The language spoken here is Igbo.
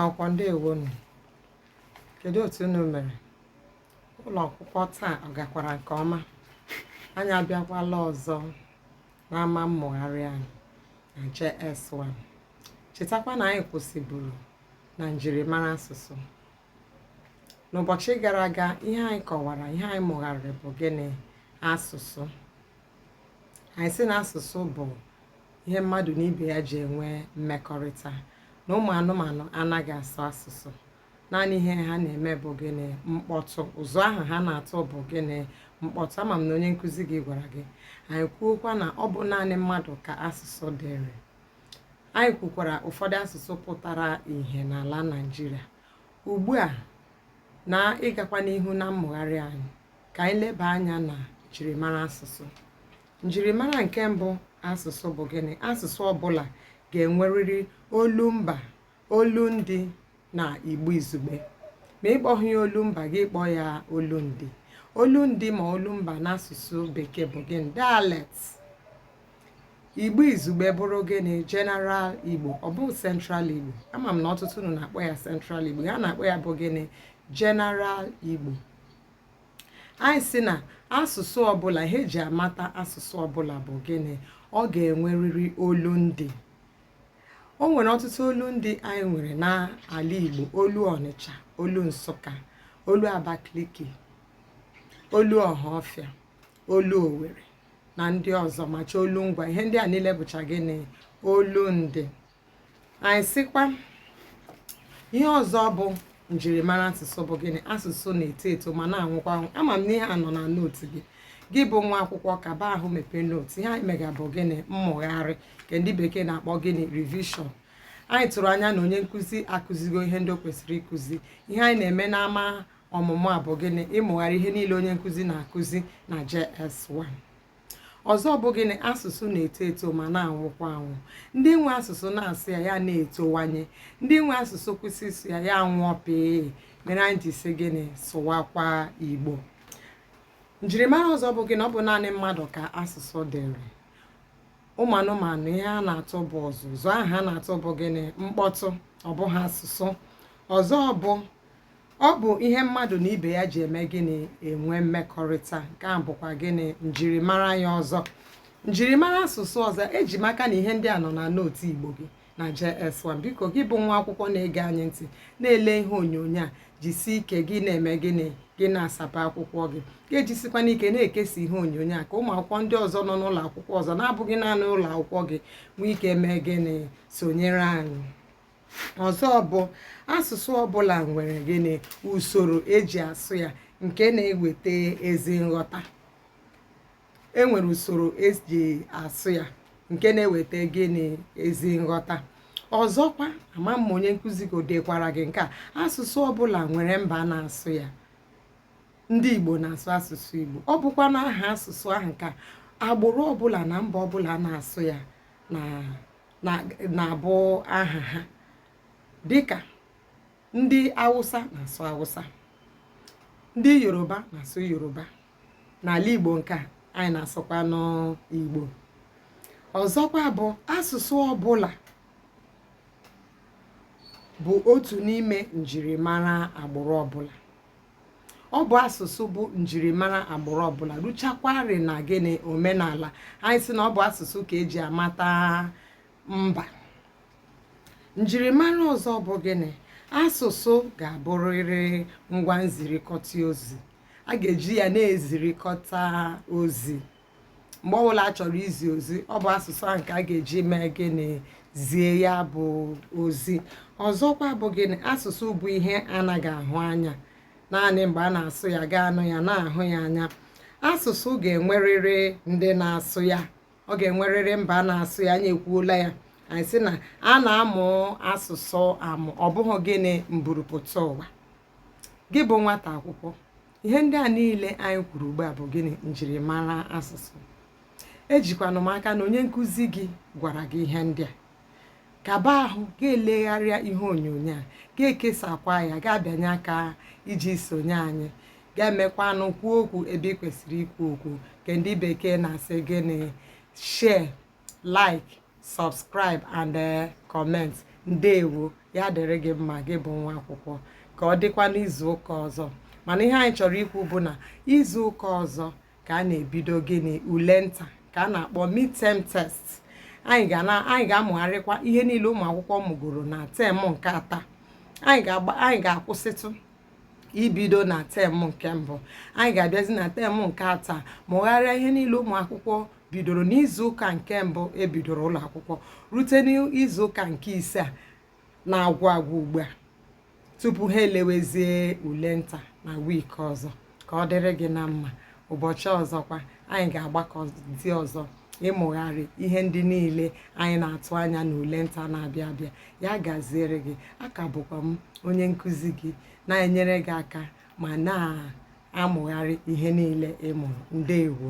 akwụkwọ ndewonu kedu otu unu mere ụlọ akwụkwọ taa ọ gakwara nke ọma anyị abịakwala ọzọ n'ama mmụgharị anyị na JS1. Chetakwa na anyị kwụsịburu na njirimara asụsụ. N'ụbọchị gara aga, ihe anyị kọwara, ihe anyị mụgharịrị bụ gịnị? Asụsụ. Anyị sị na asụsụ bụ ihe mmadụ na ibe ya ji enwe mmekọrịta, na ụmụ anụmanụ anaghị asụ asụsụ. naanị ihe ha na-eme bụ gịnị mkpọtụ ụzụ ahụ ha na-atụ bụ gịnị mkpọtụ ama m na onye nkụzi gị gwara gị anyị kwuokwa na ọ bụ naanị mmadụ ka asụsụ dịrị anyị kwukwara ụfọdụ asụsụ pụtara ihe n'ala Naịjirịa ugbu a na ịgakwa n'ihu na mmụgharị anyị ka anyị leba anya na njirimara asụsụ njirimara nke mbụ asụsụ bụ gịnị asụsụ ọbụla ga-enwerịrị olumba olundị na igbo izugbe ma ịkpọghị ya olumba gị kpọọ ya olundị olundị ma olumba n'asụsụ bekee bụ gịnị dialect igbo izugbe bụrụ gịnị general igbo ọ bụ central igbo ama m na ọtụtụ unu na-akpọ ya central igbo ihe a na-akpọ ya bụ gịnị general igbo anyị sị na asụsụ ọbụla ihe e ji amata asụsụ ọbụla bụ gịnị ọ ga-enwerịrị olundị o nwere ọtụtụ olundị anyị nwere n'ala Igbo olu Ọnịcha olu Nsụka olu Abakaliki olu Ọhaọfịa olu Owere na ndị ọzọ macha olu Ngwa ihe ndị a niile bụcha gịnị olundị anyị sịkwa ihe ọzọ bụ njirimara asụsụ bụ gịnị asụsụ na-eto eto ma na-anwụkwa anwụ ama m na ihe a nọ na note gị gị bụ nwa akwụkwọ gaa ebe ahụ mepee note ihe anyị mega bụ gịnị mmụgharị nke ndị bekee na-akpọ gịnị revision anyị tụrụ anya na onye nkụzi akụzigo ihe ndị o kwesịrị ịkụzi ihe anyị na-eme n'ama ọmụmụ a bụ gịnị ịmụgharị ihe niile onye nkụzi na-akụzi na JS1 ọzọ bụ gịnị asụsụ na-eto eto ma na-anwụkwa anwụ ndị nwe asụsụ na-asụ ya ya na-etowanye ndị nwe asụsụ kwụsị ịsụ ya ya anwụọ pịị mere anyị ji sị gịnị sụwakwa igbo njirimara ọzọ bụ gịnị ọ bụ naanị mmadụ ka asụsụ dịrị ụmụ anụmanụ ihe ha na-atụ bụ ụzụ ụzụ ahụ ha na-atụ bụ gịnị mkpọtụ ọ bụghị asụsụ ọzọ bụ ọ bụ ihe mmadụ na ibe ya ji eme gịnị enwe mmekọrịta nke a bụkwa gịnị njirimara ya ọzọ njirimara asụsụ ọzọ eji m aka na ihe ndị a nọ na nootu igbo gị na JS1 biko gị bụ nwa akwụkwọ na-ege anyị ntị na-ele ihe onyonyo a jisie ike gị na-eme gịnị gị na-asapa akwụkwọ gị gị ejisikwanụ ike na-ekesa ihe onyonyo a ka ụmụ akwụkwọ ndị ọzọ nọ n'ụlọ akwụkwọ ọzọ na-abụghị naanị ụlọ akwụkwọ gị nwee ike mee gịnị sonyere anyị ọzọ bụ asụsụ ọbụla nwere gịnị usoro eji asụ ya nke na-eweta ezi nghọta enwere usoro eji asụ ya nke na-eweta gịnị ezi nghọta ọzọkwa ama m onye nkụzi gị dekwara gị nke a asụsụ ọbụla nwere mba na-asụ ya ndị igbo na-asụ asụsụ igbo ọ bụkwa na aha asụsụ ahụ ka agbụrụ ọbụla na mba ọbụla na-asụ ya na na-abụ aha ha dịka ndị awụsa na-asụ awụsa ndị yoruba na-asụ yoruba n'ala igbo nke a anyị na-asụkwanụ igbo ọzọkwa bụ asụsụ ọbụla bụ otu n'ime njirimara agbụrụ ọbụla ọ bụ asụsụ bụ njirimara agbụrụ ọbụla ruchakwarị na gịnị omenala anyị sị na ọ bụ asụsụ ka eji amata mba njirimara ọzọ bụ gịnị asụsụ ga-abụrịrị ngwa nzirikọta ozi a ga-eji ya na-ezirikọta ozi mgbe ọbụla a chọrọ izi ozi ọ bụ asụsụ ahụ ka a ga-eji mee gịnị zie ya bụ ozi ọzọkwa bụ gịnị asụsụ bụ ihe anaghị ahụ anya naanị mgbe a na-asụ ya gị anụ ya na-ahụ ya anya asụsụ ga-enwerịrị ndị na-asụ ya ọ ga-enwerịrị mba na-asụ ya anyị ekwuola ya anyị sị na a na-amụ asụsụ amụ ọ bụghị gịnị mburupụta ụwa gị bụ nwata akwụkwọ ihe ndị a niile anyị kwuru ugbu a bụ gịnị njirimara asụsụ ejikwanụ m aka na onye nkụzi gị gwara gị ihe ndị a kaba ahụ gị elegharịa ihe onyonyo a gị ekesakwa ya gị abịanye aka iji sonye anyị gị emekwanụ kwuo okwu ebe ị kwesịrị ikwu okwu nke ndị bekee na-asị gịnị share like subscribe and eh, comment ndewo ya dịrị gị mma gị bụ nwa akwụkwọ ka ọ dịkwa n'izu ụka ọzọ mana ihe anyị chọrọ ikwu bụ na izu ụka ọzọ ka a na-ebido gịnị ule nta nke a na-akpọ midterm test anyị ga-amụgharịkwa ihe niile ụmụ akwụkwọ mụgoro na tem nke atọ anyị ga-akwụsịtụ ibido na tem nke mbụ anyị ga-abịazi na tem nke atọ mụgharịa ihe niile ụmụ akwụkwọ bidoro n'izu ụka nke mbụ e bidoro ụlọ akwụkwọ rute n'izu ụka nke ise a na-agwụ agwụ ugbu a tupu ha elewezie ule nta na wiiki ọzọ ka ọ dịrị gị na mma ụbọchị ọzọkwa anyị ga-agbakọzi ọzọ ịmụgharị ihe ndị niile anyị na-atụ anya n'ule nta na-abịa abịa ya gaziere gị aka bụkwa m onye nkụzi gị na-enyere gị aka ma na-amụgharị ihe niile ị mụrụ ndewo